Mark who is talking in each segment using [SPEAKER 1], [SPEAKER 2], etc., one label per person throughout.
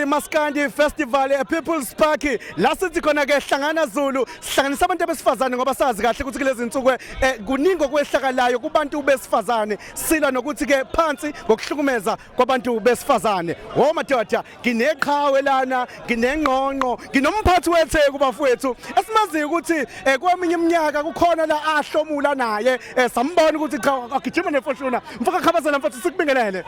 [SPEAKER 1] iMaskandi Festival ePeople's Park la sithi khona ke hlangana Zulu sihlanganisa abantu abesifazane ngoba sazi kahle ukuthi kulezi insuku eh, kuningi okwehlakalayo kubantu besifazane silwa nokuthi ke phansi ngokuhlukumeza kwabantu besifazane wo madoda ngineqhawe lana nginengqongqo nginomphathi wetheku bafowethu esimaziyo ukuthi eh, kweminye iminyaka kukhona la ahlomula naye eh, sambona ukuthi cha agijima nefoshuna mfaka khabazela mfethu sikubingelele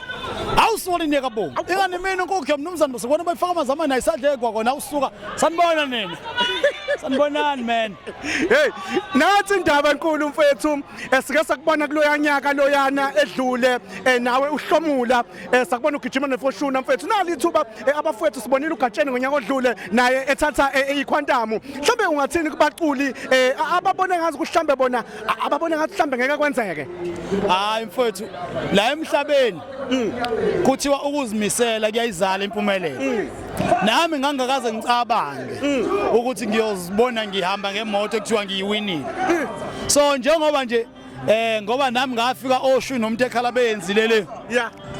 [SPEAKER 1] awusoli
[SPEAKER 2] niyeka bo ingane mina nkokhe mnumzane sikubona bayifaka amanzi amani ayisadlekwa kona awusuka sanibona nina sanibonani man hey
[SPEAKER 1] nathi indaba enkulu mfethu esike sakubona kuloya nyaka loyana edlule eh, nawe uhlomula eh, sakubona ugijima nefoshuna mfethu nali ithuba eh, abafowethu sibonile ugatsheni ngonyaka odlule naye ethatha ikhwantamu mhlawumbe ungathini kubaculi ababone ngazi kuhlambe bona ababona ngathi mhlambe ngeke kwenzeke hayi
[SPEAKER 2] mfowethu la emhlabeni mm. kuthiwa ukuzimisela kuyayizala impumelelo mm. nami ngangakaze ngicabange mm. ukuthi ngiyozibona ngihamba ngemoto ekuthiwa ngiyiwinile so njengoba nje eh ngoba nami ngafika oshu nomuntu ekhala beyenzile le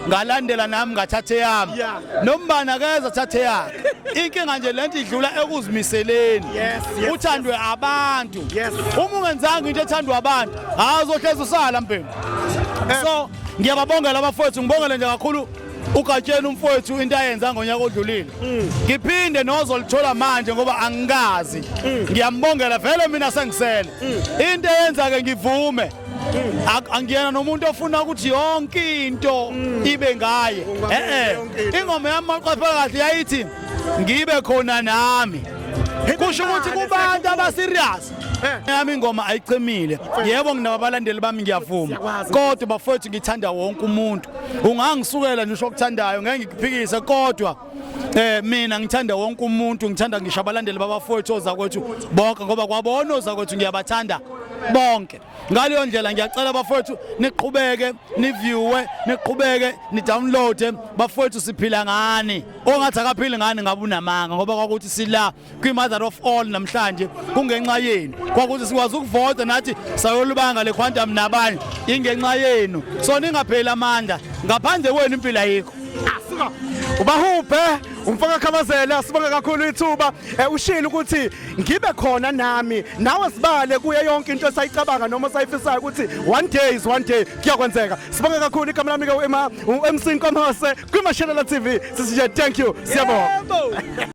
[SPEAKER 2] ngalandela nami ngathatha eyami nombani akeze athathe yakhe inkinga nje lento idlula ekuzimiseleni uthandwe abantu uma ungenzanga into ethandwa abantu hayi uzohlezi usala mbhemu eh. so ngiyababongela abafowethu ngibongele nje kakhulu ugatsheni umfowethu into ayenza ngonyaka odlulile mm. ngiphinde nozolithola manje ngoba angikazi mm. ngiyambongela vele mina sengisele mm. into eyenza ke ngivume angiyena nomuntu ofuna ukuthi yonke into mm. ibe ngaye eh ingoma yami maqapha kahle yayithi ngibe khona nami kusho ukuthi kubantu abaserious eh. yami ingoma ayicimile yebo nginababalandeli bami ngiyavuma kodwa bafowethu ngithanda wonke umuntu ungangisukela nje ushokuthandayo ngeke ngikuphikise kodwa Eh mina ngithanda wonke umuntu ngithanda ngisho abalandeli babafowethu ozakwethu bonke ngoba kwabona ozakwethu ngiyabathanda bonke ngaleyo ndlela ngiyacela bafowethu niqhubeke niviewe niqhubeke nidownloade bafowethu siphila ngani ongathi akaphili ngani ngabe unamanga ngoba kwakuthi sila kwi-mother of all namhlanje kungenxa yenu kwakuthi sikwazi ukuvota nathi sayolubanga le quantum nabanye ingenxa yenu so ningapheli amandla ngaphandle kwenu impilo ayikho
[SPEAKER 1] ubahubhe umfaka khamazela sibonge kakhulu ithuba eh, ushilo ukuthi ngibe khona nami nawe sibale kuye yonke into esayicabanga noma sayifisayo ukuthi one day is one day kuyakwenzeka sibonge kakhulu igama lami ke uMC Nkomhose kwiMashelela TV sisije thank you siyabonga